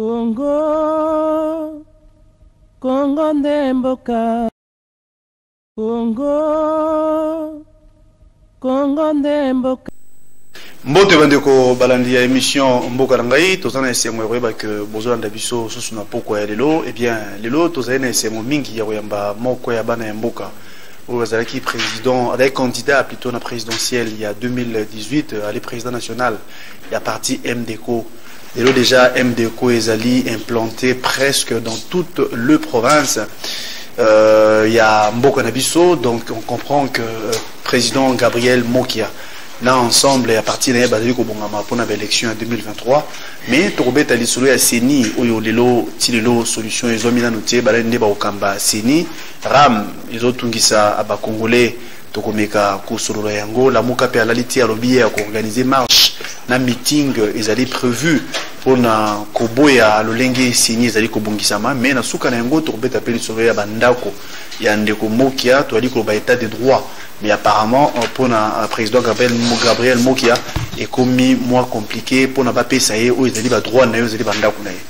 Congo, Congo nde mboka. Congo, Congo nde mboka. mbote bandeko balandi ya émission mboka na ngai toza na esengo ya koyeba ke bozolanda biso susu na pokwa ya lelo ebien eh lelo tozali na esengo mingi ya koyamba moko ya bana ya mboka oyo azalaki président azalaki candidat plutôt na présidentielle ya 2018 ali président national ya parti mdco Lelo déjà MDECO ezali implanté presque dans toute le province euh, ya mboka na biso donc on comprend que euh, président Gabriel Mokia na ensemble ya parti na ye bazali kobongama mpona baélection ya 2023 mais tokobeta lisolo ya ceni oyo lelo ti lelo solution ezwami nano te balali nde bakokamba ceni ram ezotungisa bacongolais tokomeka kosolola yango lamuka mpe alali te alobi ye ya koorganize marche na meeting ezali prévu mpo na koboya lolenge sini ezali kobongisama mais na suka na yango tokobeta mpe lisolo ya bandako ya ndeko mokia toyali koloba état de droit mais apparemment euh, mpo na euh, président gabriel, gabriel mokia ekomi mwa compliqué mpo na bapesa ye oyo ezali badroit na ye oyo ezali bandako na ye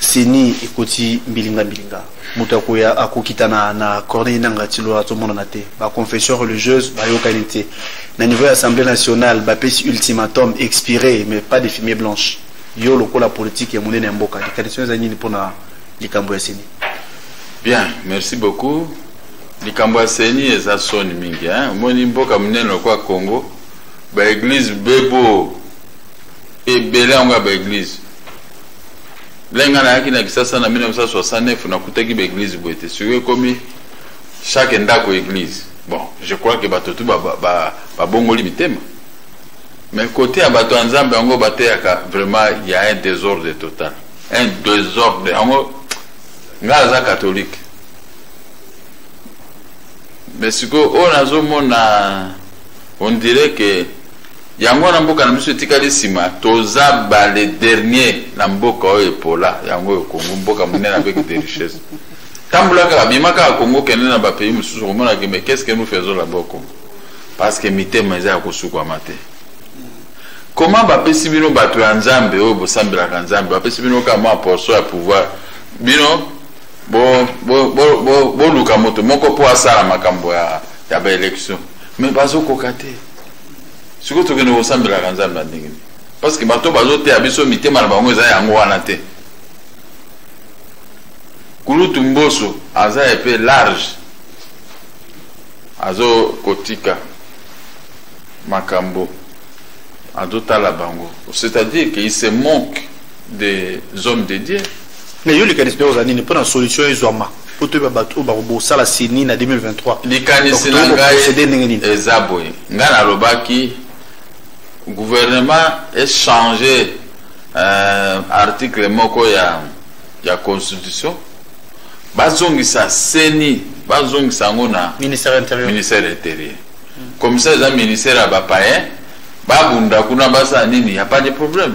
ceni ekoti mbilinga mbilinga moto akoya akokitana na corneille nanga tilo azomonana te baconfession religieuse bayokani te na niveau ya assemblée nationale bapesi ultimatum expiré mais pas de fumie blanche yo lokola politique ya monene ya mboka likanisi eza nini mpona likambo ya ceni bien merci beaucoup likambo ya ceni eza soni mingi omoni mboka monene lokola congo baeglise bebo ebele yango ya baeglise lenga nayaki na kisasa na 1969 nakutaki baeglise boye te sikoyo ekomi chaque ndako eglise bon je crois ke bato tu babongoli mitema mais kote ya bato ya nzambe yango bateyaka vraiment ya un désordre total un désordre yango ngai aza katholike mais sikoyo oyo nazomona on dirait ke yango wana mboka na biso etikali nsima toza bale dernier na mboka oyo epola yango oyo kongo mboka monene avec de richesse tambola kaka bima kaka kongo kende na bapays mosusu okomonaka mais qu'est ce que nous faisons là-bas kongo parce que mitema eza ya kosukwama te comment bapesi bino bato ya nzambe oyo bosambelaka nzambe bapesi bino kaka mwa portion ya pouvoir bino boluka moto moko mpo asala makambo ya baélection mais bazokoka te sikoyo tokende kosambelaka nzambe ya ndenge nini parce que bato bazoteya biso mitema na bango eza yango wana te kulutu mboso aza epe large azokotika makambo azotala bango c'est-à-dire qu'il se manque des hommes de dieu Mais yo likanisi nde ozali nini mpo na solution ezwama mpo toyeba bato oyo bakobosala sini na 2023 likanisi na ngai eza boye ngai nalobaki gouvernement echange euh, article moko ya, ya constitution bazongisa seni bazongisa yango na ministère intérieur, ministère intérieur. Mm. comme ça eza ministère ya bapayen babunda kuna basala nini ya pas de problème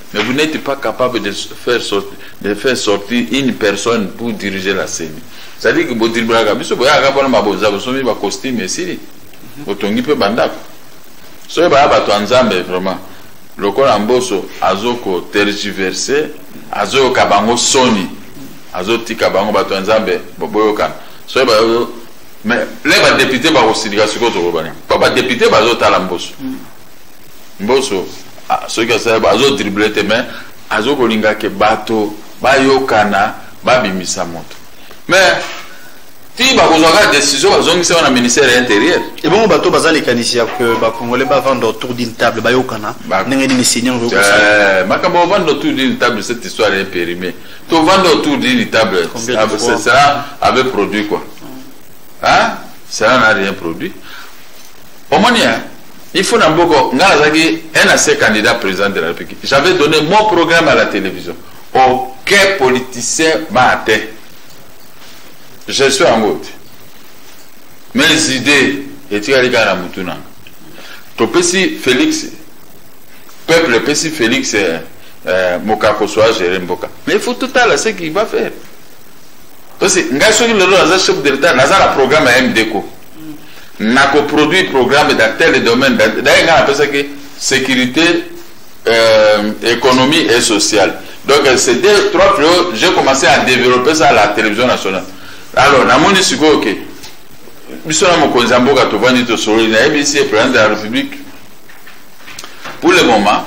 Mais vous n'êtes pas capable de faire, sortir, de faire sortir une personne pour diriger la CENI. C'est-à-dire que bodiribaka biso boyaka mpona mabonza bosomi bacostume esili botongi mpe bandako soki baya bato ya nzambe vraiment lokola mboso azoko tergiverse azoyoka bango soni azotika bango bato ya nzambe boyokana soki bayo mais le badepute bakosilika sikoyo tokobana mpo badepute bazotala mboso mm. mboso ah, soki asali azo dribble te mais azo kolinga ke bato bayokana babimisa moto mais ti bakozwaka décision bazongisaka na ministère ya intérieur ebongo bato baza likanisi ya ke bacongolais bavanda autour d'une table bayokana ndenge nini seigneur eh, makambo ovanda autour d'une table cette histoire est périmée tovanda autour d'une table cela avait produit quoi hein? cela n'a rien produit Omoni hein? Il faut na mboko nga nazalaki un ancien candidat président de la République. J'avais donné mon programme à la télévision. Aucun politicien m'a atteint. Je suis en route. Mes idées etikali kaka na mutu nanga. Topesi Félix peuple epesi Félix euh, euh, mokako soit gérer mboka. Mais il faut tout à l'heure ce qu'il va faire. Parce que ngai soki lelo naza chef de l'État naza na programme ya MDCO. na ko produire programme dans tel domaine d'ailleurs nga napesaki sécurité euh, économie et sociale donc c'est deux trois fléaux j'ai commencé à développer ça à la télévision nationale alors namoni sikoyo ke biso na mokonzi ya mboka tovandi tosololi nayebisi ye président de la république pour le moment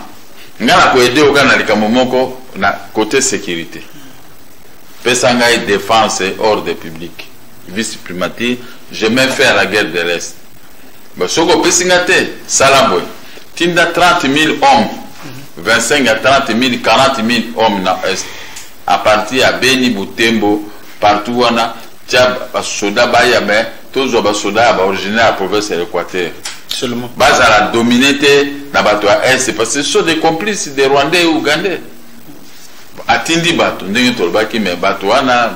nga na koede oka na likambo moko na côté sécurité pesa ngai défense ordre publique vice primati je me fais à la guerre de l'est ba soki opesi nga te sala boye tinda 30 000 hommes 25 à 30 000 40 000 hommes na est à partir ya beni butembo partout wana tya basoda baya me tozwa basoda ya baoriginaire ya province ya l'équateur Seulement. bazala domine te na bato ya est parce que ce sont des complices des rwandais et ougandais atindi bato ndenge tolobaki me bato wana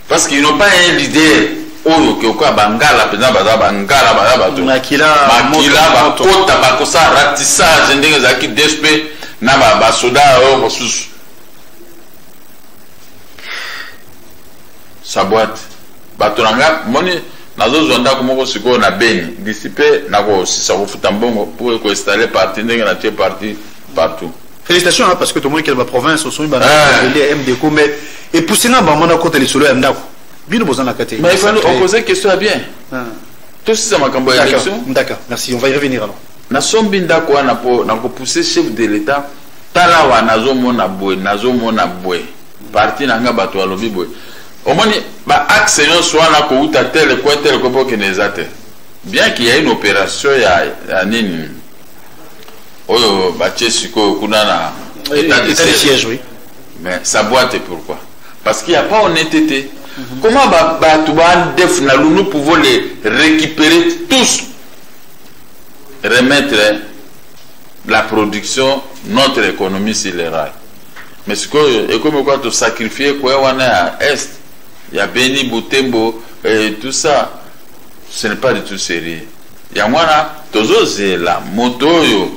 parce qu'ils n'ont pas un leader oyo okeokoya bangala mpenza baza bangala baza bato makila bakota bakosala ratissage ndenge ezalaki dsp na basoda oyo mosusu saboite bato na ngai moni nazozwa ndako moko sikoyo na beni disipe nakosisa kofuta mbongo mpo ekoinstalle parti ndenge natie parti partout Félicitations hein, parce que tout le monde qui est dans la province, au son, il va aller MDCO, mais et pour ça, on a côté les solos à Ndako. Bien, on a côté. Mais il faut on poser question à bien. Ah. Tout ça, ma campagne d'élection. D'accord, merci. On va y revenir alors. Na sombi ndako wana po na ko pousser chef de l'État tala wa nazo mona boye nazo mona boye parti na nga bato alobi boye omoni ba axe nyonso wana kouta tele kue tele kue po kende eza te bien qu'il y a une opération ya, ya nini oyo batie sikoyo kuna na eh, etat de siège oui mais sa boîte pourquoi parce qu'il n'y a pas honnêteté mhm. comment bato badef na lunu pouvons les récupérer tous remettre la production notre économie sur les rails mais sikoyo ekomi kwa tosacrifie koya wana ya est ya beni butembo et tout ça ce n'est pas du tout sérieux Yango wana tozozela moto oyo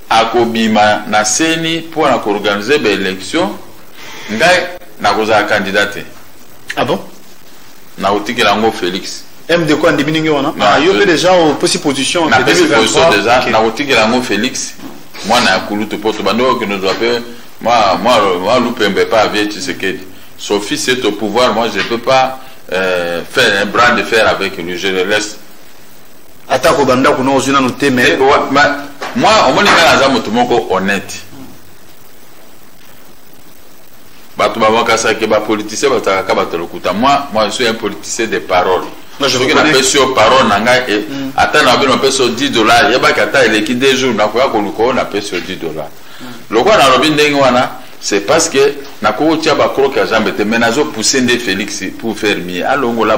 akobima na seni mpo na koorganize ba election ngai nakozala kandida te ah bon nakotikela yango félix md ko andimi ndenge wana ah, yo mpe deja opesi position napesi position deja nakotikela yango félix mwana ya kulutu mpo tobandi okende ozwa mpe mwa lupembe pa avie tshisekedi sophie c'est au pouvoir moi je peux pas euh, faire un bras de fer avec lui je le laisse atako bandako na ozwi nanu te mais mwa omoni ngai naza moto moko honnête bato babakasaki bapoliticien bazalaka ka bato lokuta moi moi suis un politicien de parole soki napesi yo parole na ngai eh, mm. ata na bino napesi yo 10 dollar yebaki ata eleki 2 jours nakoya koluka oyo napesi yo 10 dollar mm. lokola nalobi ndenge wana c'est parce que nakoki kotya bakroke ya jambe te mais nazopousse nde félix pour faire mie alongola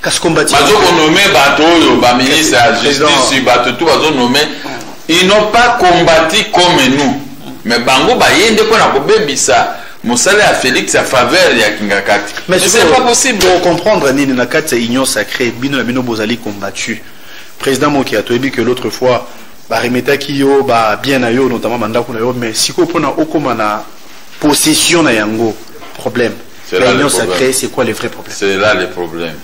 kasi kombati bazo ko nommer bato oyo ba ministre ya justice bato tout bazo nommer ils n'ont pas combattu comme nous mais bango baye nde mpo na kobebisa mosala ya félix ya faveur ya kingakati mais c'est pas possible tokocomprendre nini na kati ya union sacrée bino na bino bozali combattu président mokia toyebi que l'autre fois baremetaki yo babien na yo notamment bandako na yo mais sikoyo mpona okóma na possession na yango problème C'est là le L'union problème. sacrée, c'est quoi le vrai problème C'est là le problème.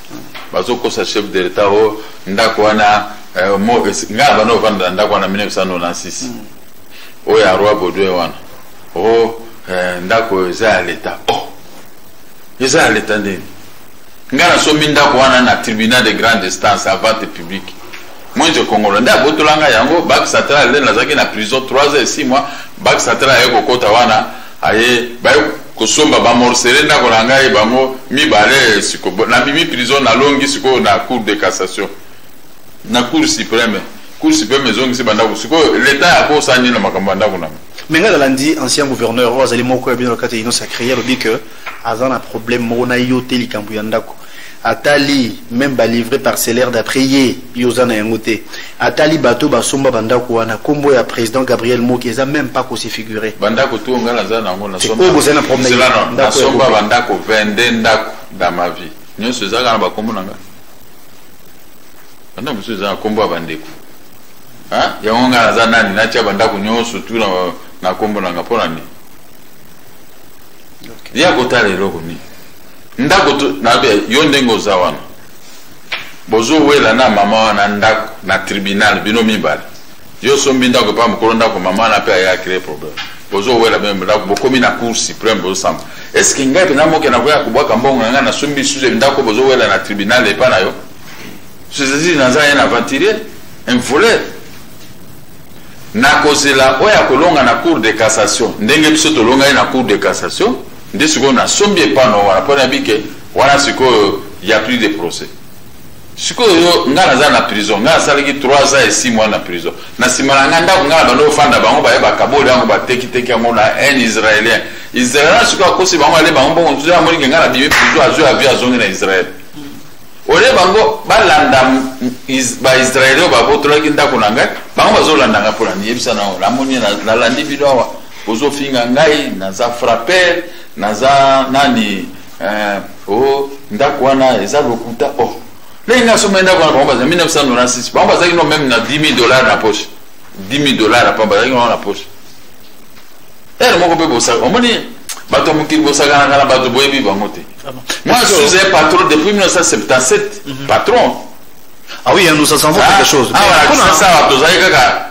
bazokosa chef de l'etat o ndako wana eh, mo- es- ngai bana ovanda na ndako wana 1996 oyo ya roi baudouin wana o eh, ndako eza ya leta o eza ya leta ndeni ngai nasomi ndako wana na tribunal de grande instance à vente publique mwenje kongola nde abotola ngai yango bak satala lene nazalaki na prison 3 heures 6 mois bak satala aye kokota wana Aye baye kosomba ba morcele ndako na ngai bango mibale siko na mimi prison na longi siko na cour de cassation na cour supreme cour supreme ezongisi bandako siko leta ya ko sani na makambo ya ndako na ngai mais ngai nalandi ancien gouverneur oyo azali moko ya bino na kati ya union sacree alobi que aza na problème moko na yo te likambo ya ndako atali meme balivre parcellaire d'après ye yo oza na yango te atali bato basomba bandako wana nkombo ya président gabriel moki eza meme pas kosifigure bandako to ngai naza na yango naoyo boza na problèmenasomba bandako 22 ndako dans ma vie nyonso eza kaka na bakombo na ngai bandako mosusu eza na nkombo ya bandeko yango ngai naza nani natya bandako nyonso tu na nkombo na ngai mpo na nini ye akotala eloko nini ndako tu nabe yo ndenge oza wana bozowela na mama wana ndako na tribunal bino mibale yo osombi ndako epa mokolo ndako mama wana mpe aya cree problème bozowela bino ndako bokomi na cour supreme bozosamba estce ngai mpenza moke nakoya kobwaka mbongo na ngai nasombi suze ndako bozowela na tribunal epa na yo sezezili naza ye na aventurier un volet nakozela oyo akolonga na cour de cassation ndenge biso tolongai na cour de cassation Nde sikoyo nasombi epai na wana mpo nayebi ke wana sikoyo ya plus de procès sikoyo yo ngai naza na prison ngai nasalaki 3 ans et 6 mois na prison na nsima na ngai ndako ngai na bando ofanda bango baye bakaboli yango batekiteki yango na un israélien israélien sikoyo akosi bango ale bango bongo ntuza amoni ke ngai na bimi prison azwi avi azongi na israel olie bango balanda baisraele oyo babotolaki ndako na ngai bango bazolanda ngai mpo na niyebisa nango namoni nalandi bino awa Bozo finga ngai naza frapper naza nani eh, oh ndako wana eza lokuta oh ndenge ngai asomba ndako wana bango baza 1996 bango bazalaki no meme na 10 000 dollars na poche 10 000 dollars apa bazalaki no na poche ere moko mpe bosaka omoni bato ya mokili bosakanaka na bato boyebi bango te ah moi je suis un patron depuis 1977 mhm. patron ah oui nous avons quelque ah, chose ah voilà ça ça tozali kaka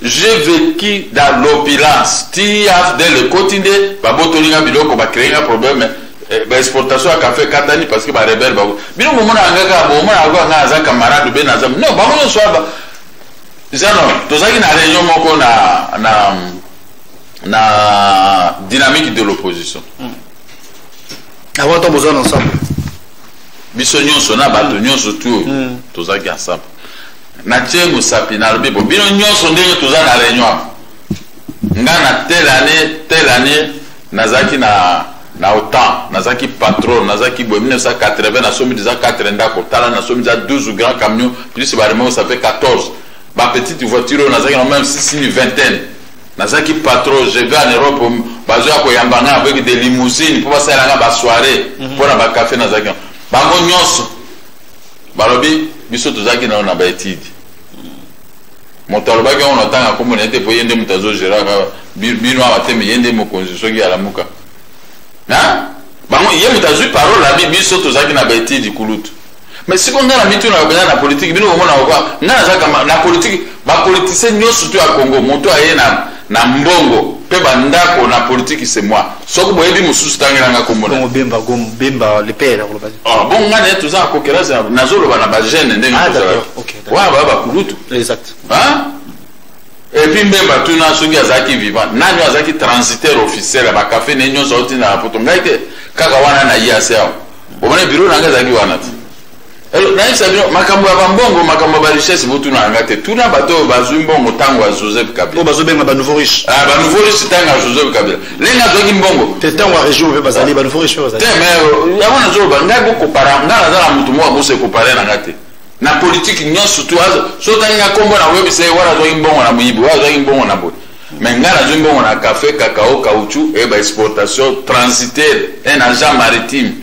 J'ai vecu dans l'opulence ti afdl ekoti nde babotoli nga biloko ba créer nga problème eh, ba exportation ya café katani parce que ba rebelle ba bino momona nga ka momona nga nga aza camarade be na zam non bango nyonso aba zano tozalaki na réunion moko na na na dynamique de l'opposition mm. avant to bozana ensemble biso nyonso na bato nyonso tu oyo mm. tozalaki ensemble Natie mosapi nalobi bo bino nyonso ndenge toza na reunion nga na telle année telle année nazalaki na na otan nazalaki patron nazalaki boye 1980 nasomi deja 4 ndako tala nasomi deja 12 grand camion plus baremoko ça fait 14 bapetite voiture oyo nazalaki na même sisini vingtaine nazalaki patron je vais en europe bazoya koyamba ngai avec des limousines mpo basalela ngai basoirée mpo mhm. na bacafé nazalaki bango nyonso balobi biso tozalaki nao na baetide moto alobaki yango natanga nkombo na ye te mpo ye nde moto azogeraka bino awa te me ye nde mokonzi soki alamuka bango ye moto azwi parole abi biso tozalaki na baetide kulutu mais siko ngai na mitunaka mpenza na politiki bino komonaka kwa ngai nazalaka na politiki Ba politiciens nyoso to ya Congo moto aye na na mbongo pe ba ndako na politique c'est moi. Soki boyebi mosusu tangela nga kombo na. Bemba gom bemba le père ko lobazi. Ah bon nga ne toza ko kelasa na zo loba na ba jeune ndenge ah, toza. OK. Wa ba ba kulutu. Exact. Hein? Et puis mbemba tuna soki azalaki vivant nani azalaki transitaire officiel ya bakafe ne nyonso auti na poto ngai te kaka wana na ye aseao omoni biro na ngai ezalaki wana te Eh, nayebisa bino makambo ya bambongo makambo ya barichesse botuna yanga te tuna bato oyo bazwi mbongo ntango ya joseph kabila oyo bazobenga banouveau riche ah, banouveau riche ntango ya joseph kabila lenge azwaki mbongo te ntango ya regime mpe bazali banouveau riche bazali te mais euh, yango nazoloba ngai bokopara ngai naza na moto moko akosa ekopare na ngai te na politike nyonso tu so otangi ngai nkombo na koyebisa ye wana azwaki mbongo na moyibi oyo azwaki mbongo na boye mais ngai nazwi mbongo na café cacao caoutchou e eh, baexportation transitaire e eh, na jean maritime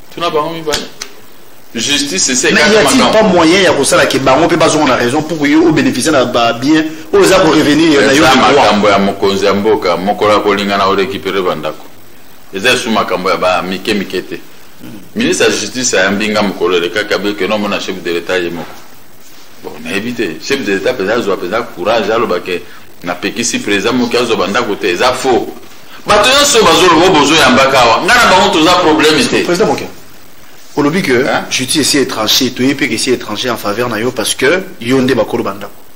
tuna bango mibale justice ese mais y a-t-il pas moyen ya kosala ke bango mpe bazonga na raison pour yo obénéficie na babien oyo eza korevenir na yo makambo ya mokonzi ya mboka mokolo akolinga na orécupere bandako eza esu makambo ya bamike mike te ministre ya justice ayambi nga mokolo elekaki abiki no omona chef de l'état ye moko bon nayebi te chef de l'état mpenza azwa mpenza courage alobake napekisi président moki azwa bandako te eza faux bato nyonso oyo bazoloba oyo bozoyambaka awa ngai na bango toza problème te président moke olobi que hein? justice esi étranger toyebi mpe kesi étranger en faveur na yo parce que yo nde bakolo bandako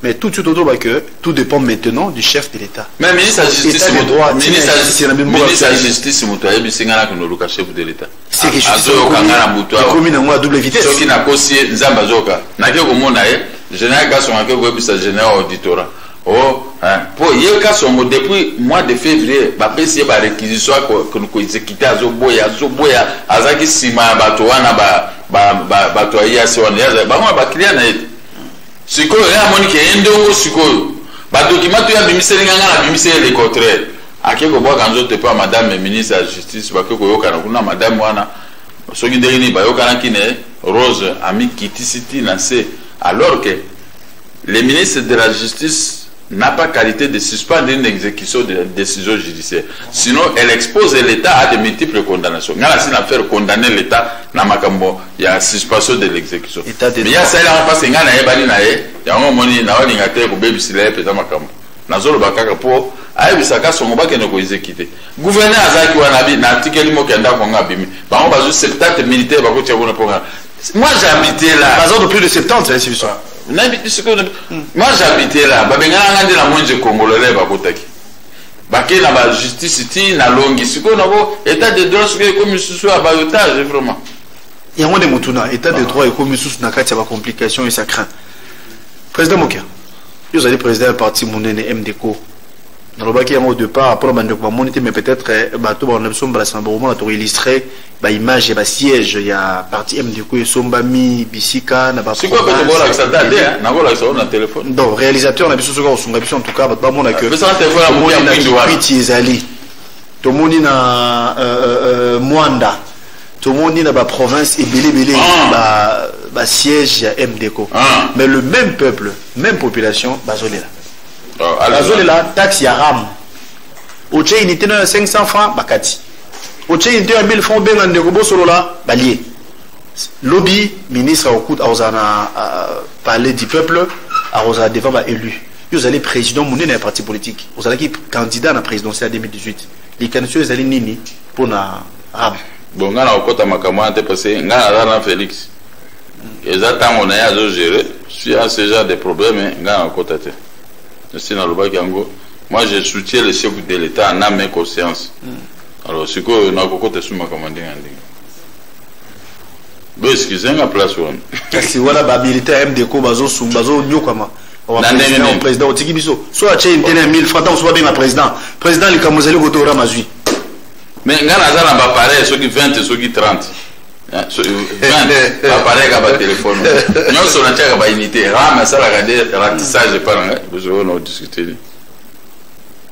mais tout de suite autour que tout dépend maintenant du chef de l'État. Mais ministre de justice, ministre de justice, moto ayebi singa na kono luka chef de l'État. C'est que justice azoyoka nga na moto awa. Komi na ngo à double vitesse. Soki na kosi nzamba zoka. Na ke komona ye, général Gasson a ke koyebisa général auditora. Oh, hein. Po ye kasongo depuis mois de février bapesi ye ba réquisition ya ko- ko- koexécute azoboya azoboya azalaki nsima ya bato wana ba- ba- ba- bato ya yasi wana Ye aza- bango na baklia na ye te. sikoyo ye amoni ke ye ndongo sikoyo badokima to ye abimiseli nga nga nabimiseli le contraire ake kobwaka nzoto epa madame ministre ya justice bake koyokana kuna madame wana soki ndenge nini bayokanaki na ye rose amikitisi ti na se alors ke Le ministre de la Justice n'a pas qualité de suspendre une exécution de la décision judiciaire. Sinon, elle expose l'État à de multiples condamnations. Ngala si na faire condamner l'État na makambo ya suspension de l'exécution. État de Mais ya droit. sala en face ngana ye bani na ye, yango moni na wani ngate ko baby sila peza makambo. Na zolo bakaka po ayebisa ka songo bakende ko exécuter. Gouverneur azaki wana bi na article mo kenda ko ngabimi. Bango bazu 70 militaires bakotia kuna po ngana. Moi j'habitais là. Bazar de plus de 70, hein, c'est ça. nayebi te sikoyo moi j'habite là babengana nga nde na mwenje congolais bakotaki bake na bajustice ti nalongi sikoyo nabo état de droit sikoyo ekomi lisusu ya bayotage vraiment yango nde motuna état de droit ekomi lisusu na kati ya bacomplication et ça craint président mokia yo ozali président ya parti monene mdco nalobaki yango au départ mpona bandeko bamoni te mais peut-être eh, bato baona biso mbala nsima bakomona tokoillustre ba image ya ba siège ya parti MDQ esombami bisika na ba sikoyo pe tokolakisa ta te nakolakisa oyo na telefone donc réalisateur na biso soki akosunga biso en tout cas bato bamona que piti ezali tomoni na euh, euh, euh, mwanda tomoni na baprovince ebele ebele ah. basiège ya mdco ah. mais le même peuple même population bazolela oh, bazolela taxe ya ram otie unité no ya 500 francs bakati otie unité ya 1000 francs obenga ndeko bosolola balie lobi ministre akokuta akozala na euh, palais du peuple akozala devant baélu yo ozali président monene ya parti politique ozalaki candidat na présidentiel ya 2018 likanisi oyo ezali nini mpo na ram bon ngai nakokota makambo wana te parce ngai naza na félix eza ntango na ye azogere si a ce genre de problème ngai nakokota te esi nalobaki yango moi je soutiens le chef de l'etat en ame conscience mm. alors sikoyo nakokota esu makambo ndenge ya ndenge boeskize nga place wana kasi wana bamilitaire ya mdeko bazonyokwama président otiki biso so atye ntene ya 1000 franc ntango so babenga président président likambo ezali kotora mazwi mais ngai naza na bapareil soki 20 soki 30 Eh, bapareil kaka batelefone nyonso natiaka baunité ram asalaka de ratissage epa na ngai bozoyo naodiscute ni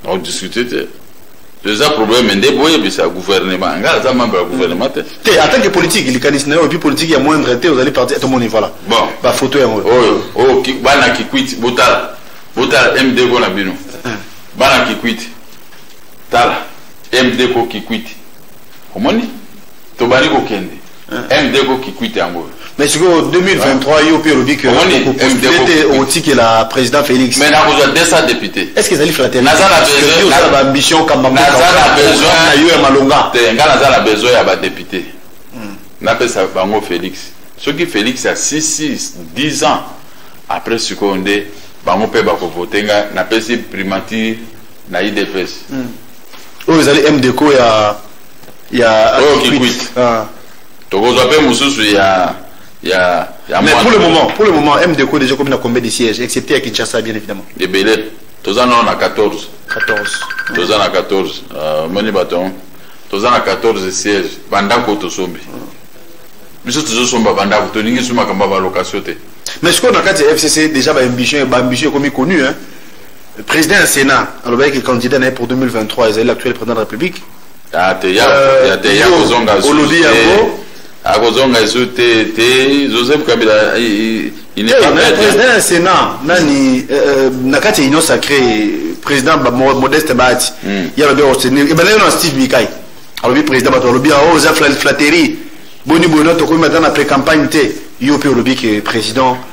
naodiscute te eza problème nde boyebisa gouvernement ngai aza membre ya gouvernement te te en tant que politique likanisi na yo epuis politique ya moindre te ozali parti tomoni voilà bon bafoto yango oyo oyo bana kikwiti botala botala mdgo na bino eh. bana kikwiti tala mdgo kikwiti omoni tobandi kokende mdeko kikwite yango oyo mais sikoyo 2023 yo mpe olobi kete okotikela président félix mais nakozwa 200 député est ce que ezali fraternité baambition kambana yo ya malonga te ngai naza na besoin ya badepute hmm. napesa bango félix soki félix ya 66 10 ans après sikoyo nde bango mpe bakovote ngai napesi primature na idps hmm. oyo ezali mdeko ya ya oyo oh, kikwit ah. tokozwa mpe mosusu ya ya ya mais pour le moment pour le moment mdco déjà komi na combien de siège excepté ya kinshasa bien évidemment ebele toza nao na 14 14 toza na 14 omoni bato yango toza na 14 siège bandako tosombi biso tozosomba bandako tolingi so makambo ya balokatio te mais sikoyo na kati ya fcc déjà baambition baambition ekomi connu hein Président du Sénat, alors est candidat pour 2023, il est l'actuel président de la République. Ah, il y a euh, des gens qui ont gagné. akozonga esu te te joseph kabila il n'est eh, pas maître président ya sénat nani euh, euh, na kati ya union sacrée président modeste bahati hmm. ye alobi akotenir ebandaki na steve mikai alobi président bato balobi ao oh, oza flatterie boni boye no tokomi ata na pré-campagne te yo mpe olobi ke président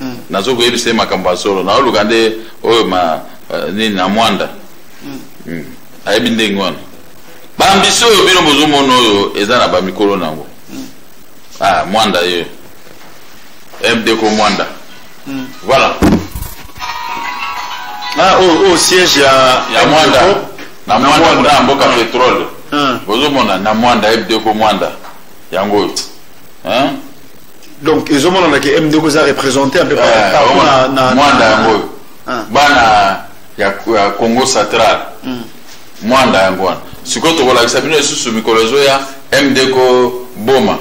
mm. nazo koyebisa ye makambo ya solo naoluka nde oyo ma uh, nini na mwanda mm. mm. ayebi ndenge wana bambisi oyo bino bozomona oyo eza na bamikolo na yango mm. ah, mwanda ye mdeko mwanda mm. voilà ah, oyo oh, oh, siège ya, ya mwanda na mwanda kuna ya mboka petrole mm. bozomona na mwanda mdeko mwanda yango oyo donc ezomonana ke mdeko eza représente mpe mwanda yango oyo bana ya congo central hmm. mwanda yango wana sikoyo tokolakisa bino lisusu mikolo ezoya mdeko boma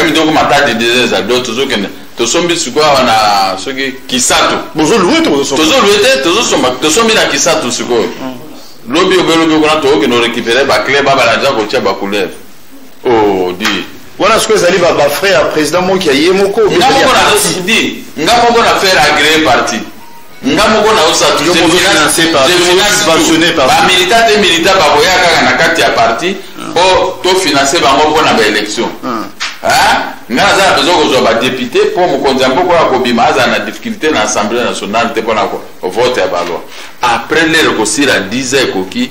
mdeko mhm. matadi deja eza do tozokende tosombi sikoyo awa na soki kisato tozolue te tozosomba tosombi na kisato sikoyo hmm. lobi obelobi kuna tokokende orekipere baclub abalanja kotia bacouleur oh di wana sikoyo ezali bafrai ya président moki ya ye moko nga moko nazosidi nga moko na faire agree parti nga moko naosatbamilita te milita bakoya kaka na kati ya parti mpo ah. tofinanse bango mpo na baélection ah. nga naza na besoin kozwa badepute mpo mokonzi ya mboka ya kobima azala na difficulté na assemblée nationale te mpo na vote ya baloi après lere kosila 10 ekoki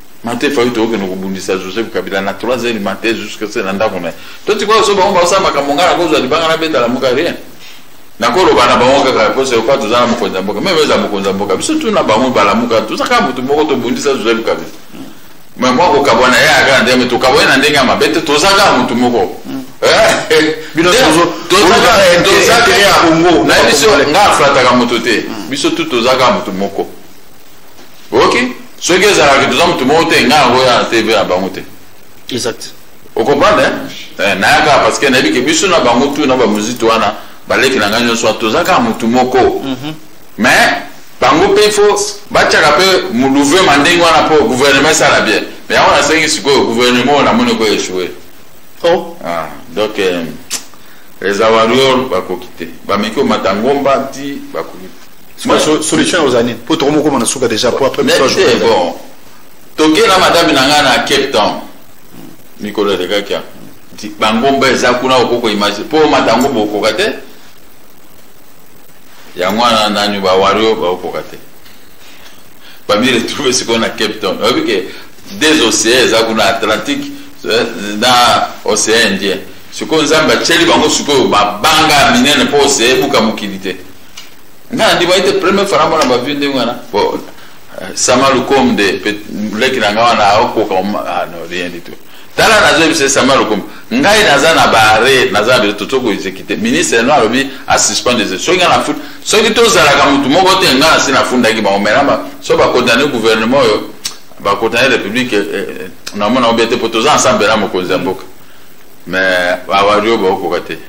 Mate faute okende kobundisa Joseph Kabila na 3 heures matin jusqu'à ce na ndako na ye to tikoyo so bango baosala makambo ngai nakozwa libanga nabeta lamuka rien nakoloba na bango kaka mposa yoka toza na mokonzi ya mboka meme eza mokonzi ya mboka biso tuna bango balamuka toza kaka motu moko tobundisa Joseph Kabila mais mwa kokabwana ye aya kaka ndenge tokabwani na ndenge ya mabe te toza kaka motu moko nayebi so ngai aflataka moto te biso tu toza kaka motu moko oyoki soki ezalaka toza motu moko te ngai yango ya tv ya bango te exact okomprendre eh, nayaka parce que nayebi ke biso na bango tu na bamuziki wana baleki na ngai nyonso wana toza kaka motu moko mhm. mais bango mpe ifo batyaka mpe mouvema ndenge wana mpo gouvernement esala bien mais yango nasengi sikoyo gouvernement oyo namoni ko echoue oh. ah, donc eh, les awarior bakoki te bameki omata ngomba ti bakoki solution ya ozali mpo tokomokoma na suka déjà po après bon toke na madame na ngai na cape town mikolo elekaki bangomba eza kuna okoko image mpo omata ngomba okoka te yango wana nani bawario baokoka te bami retrouve sikoyo na cape town oyebi ke des océan eza kuna atlantique eh, na océan indien sikoyo nzambe atyeli bango sikoyo mabanga minene mpo océan ebuka mokili te nga andimaki te premier fana mona bavie ndenge wana po euh, sama lukom de leki na nga wana aokoka ah, no rien du tout tala nazoyebisa sama lukom ngai naza na bare naza na biso totoki koexekite ministre no alobi asuspend des soki nga nafut soki tozalaka motu moko te nga nasi nafundaki bango menama so bakondane gouvernement oyo bakondane république eh, eh, eh, namona obe te mpo toza ensemble na mokonzi ya mboka mais awario baokoka te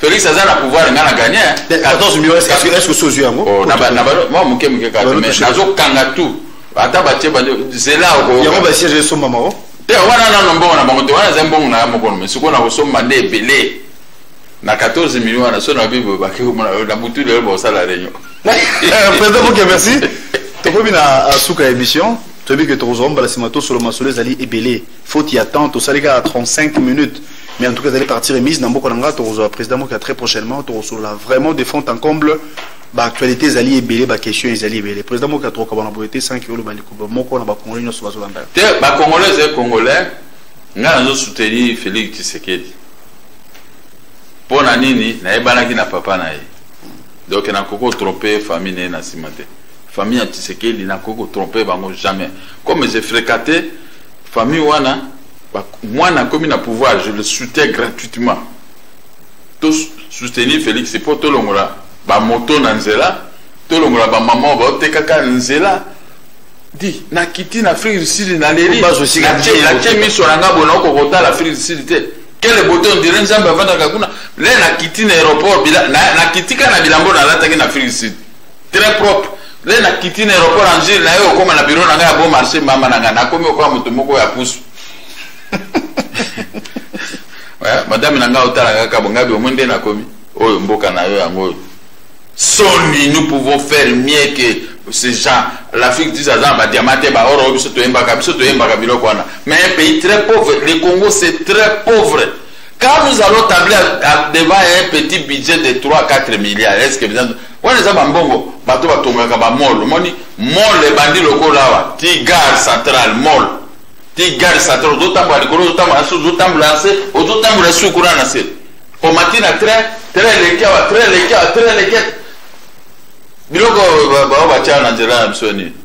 Felix aza na pouvoir nga na gagner. Hein. 14 millions est-ce que est-ce que sozu yango? Oh na ba na ba moi muke muke ka mais nazo kanga tout. Ata ba tie ba zela ko. Yango ba siège so mama o. Oh. Te wana na no mbongo na bango te wana za mbongo na moko mais siko na ko so mande ebele. Na 14 millions na so na bibo ba ke ko na butu de ba sala renyo. Eh, président Moke merci. Tokomi na euh, suka émission. Toyebi que tokozwa mbala nsima tosolo masolo ezali ebele faute ya temps tosali kaka 35 minutes mais en tout cas ezali partie remise na mboka na ngai tokozwa président moka très prochainement tokosolola vraiment de fond en comble baactualité ezali ebele baquestion ezali ebele président moka tokokaba na boye te sans ke oloba likoba moko na bacongolais nyonso bazolanda yo te bacongolais ezali congolais ngai nazo soutenir félix tshisekedi mpo na nini nayebanaki na papa na ye donc nakoki kotrompe famille na ye na nsima te famille ya tshisekedi nakoki kotrompe bango jamais comme je fréquente famille wana mwana akomi na pouvoir je le soutiens gratuitement to soutenir félix mpo tolongola bamoto na nzela tolongola bamama oyo baotekaka nzela di nakiti na afrique du sud naleli natie miso na nga bona okokotala afrique du sud te kele boto ondire nzambe avandaka kuna le nakiti na aéroport nakitika na bilambo nalataki na afrique du sud très propre nde nakiti na aéroport angile na ye okoma na biro na ngai ya bon marché mama na ngai nakomi okoya moto moko ya pusu madame na ngai otalaka kaka bongabi omoi nde nakomi oyo mboka na yo yango oyo soni nous pouvons faire mieux que ces gens l'afrique dis aza na badiama te baoro oyo biso toyembaka biso toyembaka biloko wana mais un pays très pauvre le congo c'est très pauvre quand nous allons tabler devant un petit budget de 3 4 milliards est ce que wana eza bambongo bato batongaka bamol omoni mol ebandi lokola awa ti gare central mol ti gare central ozotambola likolo ozotambola na se ozotambola na se ozotambola su kuna na se omati na train train eleki awa train eleki awa train eleki biloko bao batya na nzela na biso nini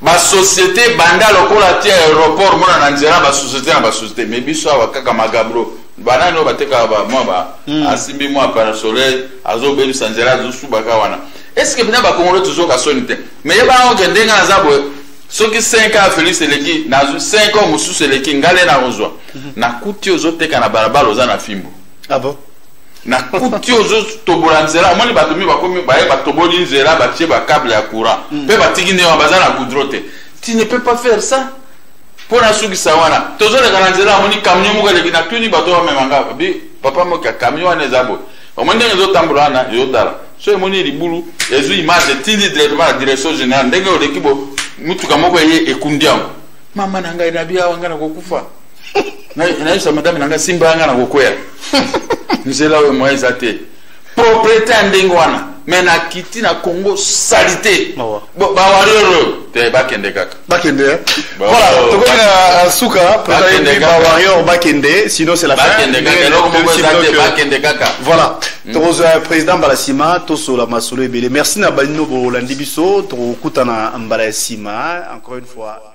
Ba societe ebanda lokola tia aeroport mona na nzela ba societe na ba societe mais biso awa kaka magabro banani oyo batekaka ba mwa ba mm. asimbi mwa par soleil azobebisa nzela azosubaka wana eske bina bakongolo tozoka soni te mais ye bango ke ndenge naza boye soki 5 ans felix eleki nazwi 5 ans mosusu eleki ngale nakozwa mm-hmm. nakuti ozoteka na balabala oza na fimbo ah bon? na kuti ozotobola nzela omoni bato mi bakomi baye batoboli nzela batie bacable ya courant mpe hmm. batiki nde wana baza na goudro te tu ne peux pas faire ça mpo nasukisa wana tozoleka na nzela amoni camion moko eleki natuni bato bamemanga bi papa moka camion wana eza boye omoni ndenge ezotambola wana ezotala so emoni libulu ezwi image etindi directement na direction générale ndenge oleki bo motuka moko eye ekundi yango mama na ngai nabi awa ngai nakokufa nayebisa madame na ngai simba ngai na kokwea nzela oyo moyen eza te propriété ya ndenge wana me nakiti na congo salite bawario oyo te bakende kaka bakende eh? voilà tokomi na euh, suka bawario bakende sinon c'est la bakende kaka voilà mm. tokozwa euh, président mbala nsima tosola masolo ebele merci na banino bolandi biso tokokutana mbala ya nsima encore une fois